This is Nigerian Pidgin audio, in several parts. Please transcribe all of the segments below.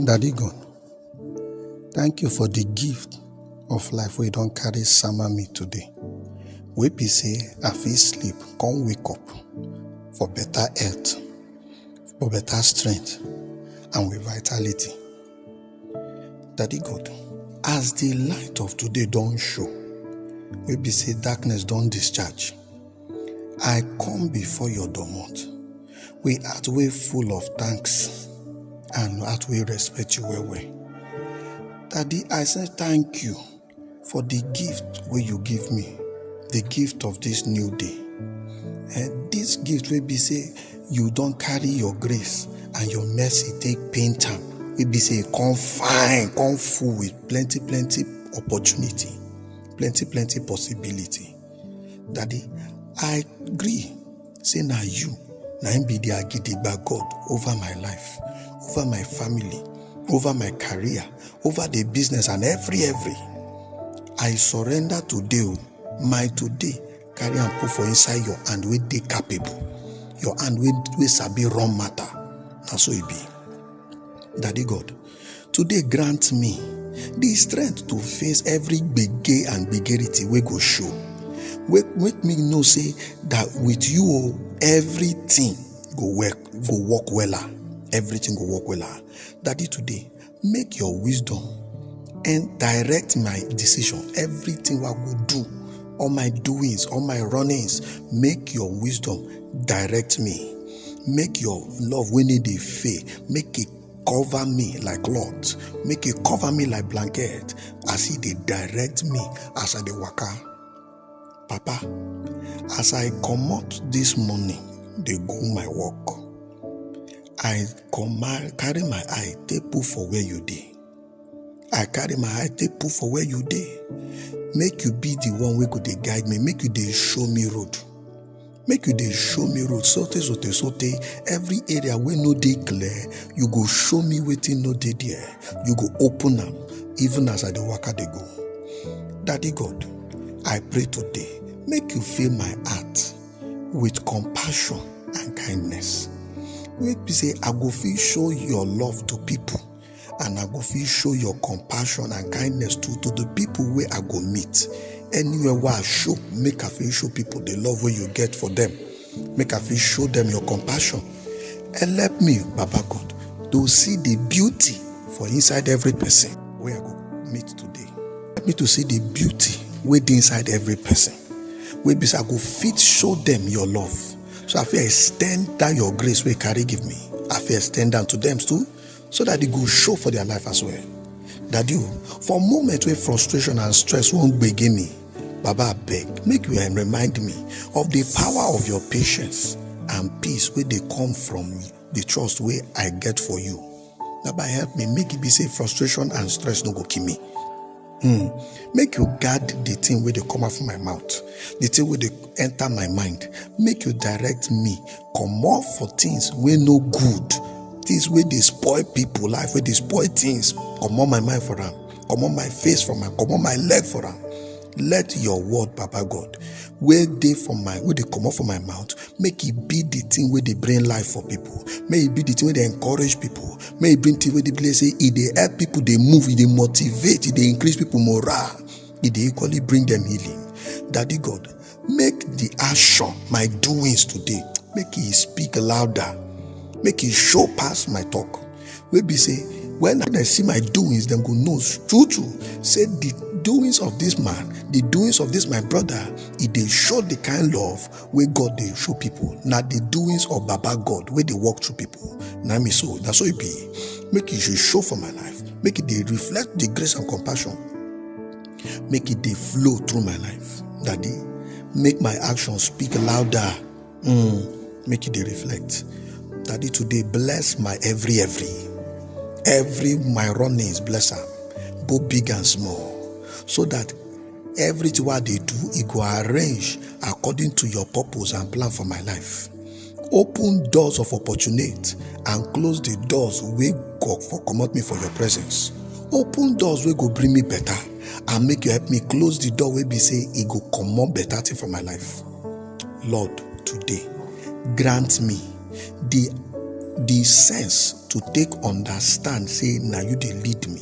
Daddy God, thank you for the gift of life wey you don carry sama me today. Wey be say I fit sleep, come wake up for better health, for better strength, and with vitality. Daddy God, as the light of today don show, wey be say darkness don discharge, I come before your domot with heart wey full of thanks and heart wey respect you well well. Daddy I say thank you for the gift wey you give me, the gift of this new day. um This gift wey be say you don carry your grace and your mercy take paint am wey be say e come fine, come full with plenty plenty opportunity, plenty plenty possibility. Daddy, I agree. Say now you, now him be the Agidigba God over my life, over my family, over my career, over the business and every every. I surrender today, oh, my today, carry and put for inside your hand where they capable. Your hand where we sabi run matter. Now so it be. Daddy God, Today grant me the strength to face every gbege and gbegerity wey go show. Make, make me know say that with you oh, everything go work go work wella. Everything go work wella. Daddy today, make your wisdom and direct my decision. Everything wey I go do, all my doings, all my runnings, make your wisdom direct me. Make your love wey no dey fail, make e cover me like cloth make e cover me like blanket as e dey direct me as i dey waka papa as i comot this morning dey go my work i comma carry my eye take put for where you dey i carry my eye take put for where you dey make you be the one wey go dey guide me make you dey show me road make you dey show me road sote sote sote every area wey no dey clear you go show me wetin no dey there you go open am even as i dey waka dey go daddy god i pray today make you fill my heart with compassion and kindness wey be say i go fit show your love to people and i go fit show your compassion and kindness to to the people wey i go meet anywhere wey i show make i fit show people the love wey you get for them make i fit show them your compassion help me baba god to see the beauty for inside every person wey i go meet today help me to see the beauty wey dey inside every person wey be say i go fit show them your love so i fit extend that your grace wey you carry give me i fit extend am to them too so that e go show for their life as well daddy o for moment wey frustration and stress wan gbege me baba abeg make you um, remind me of the power of your patience and peace wey dey come from the trust wey i get for you baba help me make e be say frustration and stress no go kill me Hmm. Make you guard the thing where they come out from my mouth, the thing where they enter my mind. Make you direct me, come off for things where no good, things where they spoil people life, where they spoil things. Come on my mind for them, come on my face for them, come on my leg for them. Let your word, Papa God, where they from my where they come off from my mouth, make e be the thing wey dey bring life for people make e be the thing wey dey encourage people make e bring thing wey dey be like say e dey help people dey move e dey motivate e dey increase people morale e dey equally bring them healing daddy god make the action my doings today make e speak louder make e show pass my talk wey be say when dem see my doings dem go know true true say the doings of this man the doings of this my brother e dey show the kind love wey God dey show people. Na the doings of Baba God wey dey work through people. Na me so, na so it be. Make it should show for my life. Make it dey reflect the grace and compassion. Make it dey flow through my life. Daddy, make my actions speak louder. Mm, make it dey reflect. Daddy, today bless my every every. Every my runnings, bless am, both big and small, so that everything wey i dey do e go arrange according to your purpose and plan for my life open doors of opportunity and close the doors wey go for comot me for your presence open doors wey go bring me better and make you help me close the door wey be say e go comot better thing for my life lord today grant me the the sense to take understand say na you dey lead me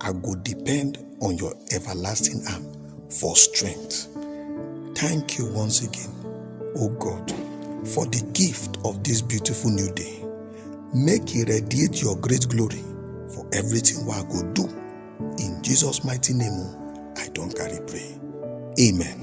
I go depend on your everlasting arm for strength. Thank you once again, O God, for the gift of this beautiful new day. Make it radiate your great glory for everything we go do. In Jesus' mighty name, oh, I don't carry pray. Amen.